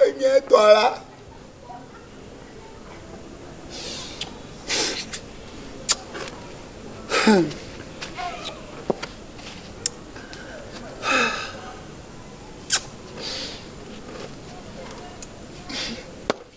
Enye etɔ la.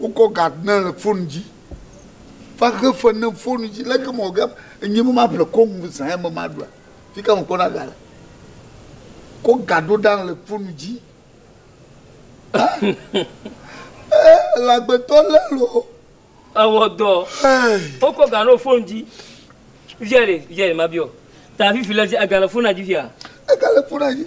Wokɔ Gardner le fonu dzi va xe fe nɛ fonu dzi. Leke mewɔ ge enye be maƒle kɔnu zã ya me maɖua? Fi ka mekpɔna ga le? Kɔ ga ɖo ɖa le fonu dzi. Ee, le agbetɔ lé loo. Ewɔ dɔ. Wokɔ ga ɖo fonu dzi. Via ɖe, via ɖe mabiɔ. Ta fifi le dzi, ega le fonua dzi fia? Ega le fonua dzi.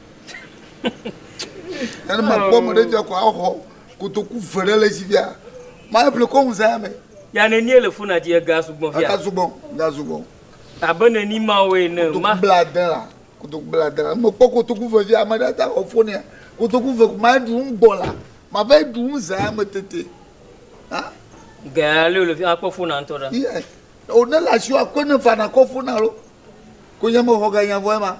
Ɛnɛ ma kpɔ me ɖe fia ko axɔ kotoku ve ɖe le zi fia. Ma eble ko ŋu zaya me. Ya nenie le fona dzi ega sugbɔ fia. Ega sugbɔ, ega sugbɔ. Abe neni ma wo ene. Kotoku ma bla de la, kotoku bla de la. Me kpɔ kotoku ve fia ma ɖe ta xɔ fonia. Kotoku ve ma ɖu ŋu gbɔ la. Ma va ɖu ŋu zaya me tete. Ha? Gaya le le fia kpɔ fona ŋtɔ ɖa. Yes. O ne la sio akwe ne fana kɔ fona lo. Ko nyame xɔ ga nyavɔ ema.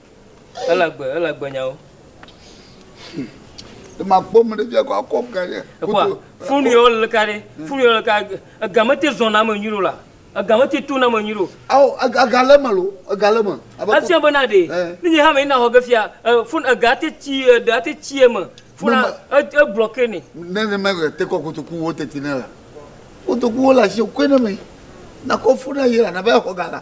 Ele agbe, ele agbe nyawo. Ema kpɔ mu ɖe bia ko akɔ ga ɖe. Ekwa funu yɔ le ka ɖe. Funu yɔ le ka ega me te zɔn na me nyuɖo la. Ega me te to na me nyuɖo. Awo ega ga le me lo, ega le me. Asia be na ɖe. Ne nye ha me na hɔ ge fia, funu ega te tsi ɖe ate tsi eme. Funu e bloke ne. Ne ne me te kɔ kotoku wo te ti ne la. Kotoku wo la si ko ne me. Na kɔ funu ye la na be xɔ ga la.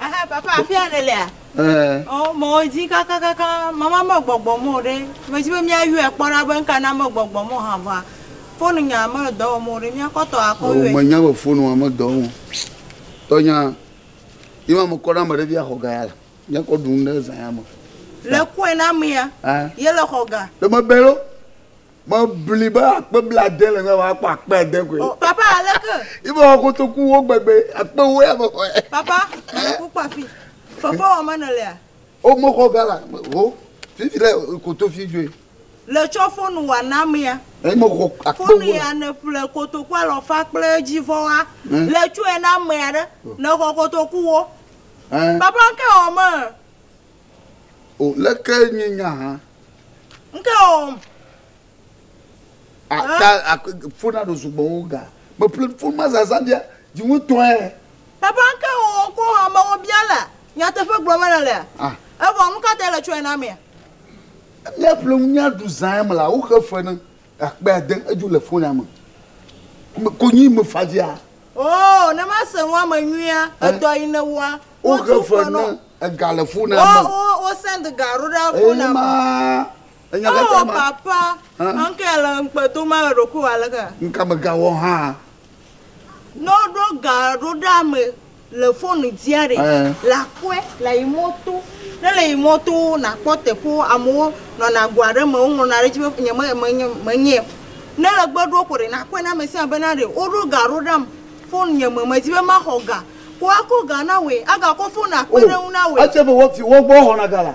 Aha, papa, afi ya nèlea? Ɛɛ. Ɔ, mewɔ dzi kakakaka, mama megbɔgbɔ mɔ o ɖe. Medi be míayɔe kpɔ ɖa be nuka na megbɔgbɔ mɔ hã vɔa, fonunya mele dɔ wɔm o ɖe. Míakɔ tɔwò akɔ yɔe. Ɔ, menya be fonua medɔ wɔm o. Tɔnya, yi ma mekɔ ɖe ame ɖe fia xɔ ga ya le. Míakɔ ɖu nu ɖe zã ya me. Le kɔe na amea? Ɛ. Yele xɔ ga. Ɖe mebɛ ɖo? Mebli be akpe blaade le ŋe woakpɔ akpe ade koe. Oh, papa aleke? Ibe wɔ kotoku wo gbegbe akpe wo ya me xɔ. Papa, mele kpokpɔ afi. Fefe wɔ menɔ lea? O me xɔ gala ho. Fifi le koto fi joe. Le tsɔ fonu wa na mea. Eyi me xɔ akpe wo. Fonu ya ne ƒle kotoku alɔ fa kple edzi vɔ wa. Eh. Le tsɔe na mea ɖe. Oh. Ne xɔ kotoku wo. Eh. Papa ke wɔ me. O leke nye nya hã. Nke o. Ata ak fo na ɖo sugbɔ wo ga. Me ple fo ma zaza dia ji wo tɔe. Papa nke o ko ha me wo bia le nyateƒe gblɔ me le le. Evɔ nu ka ta le tsɔe na mea. Mia ple ŋu mia ɖu zae me la wo xe fe ne. Akpe ade edzo le fona me. Me konyi me fadzia. Oo ne ma se nua me nyuia edɔ yi ne wa. O xe fe ne ega le fona me. O o o send ga ro ɖa fona me. Eye ma. Oo papa. Ŋkɛ le ŋkpe do ma eɖokui wa le ke. Ŋka me ga wɔ ha. Ne woɖo ga ɖo ɖe ame le fon dzia ɖe le aƒe le yi mɔto ne le yi mɔto nakpɔ teƒe amewo nɔna go aɖe me woŋlɔna ɖe edzi be nye me menye menye ne le gbe ɖo ko ɖe nakpɔe na ame sia be na ɖe woɖo ga ɖo ɖam fon nye me medi be maxɔ ga ko akɔ ga na wòe agakɔ fon akpe ɖe ŋu na wòe. Etse be wo viwo gbɔ xɔna ga la.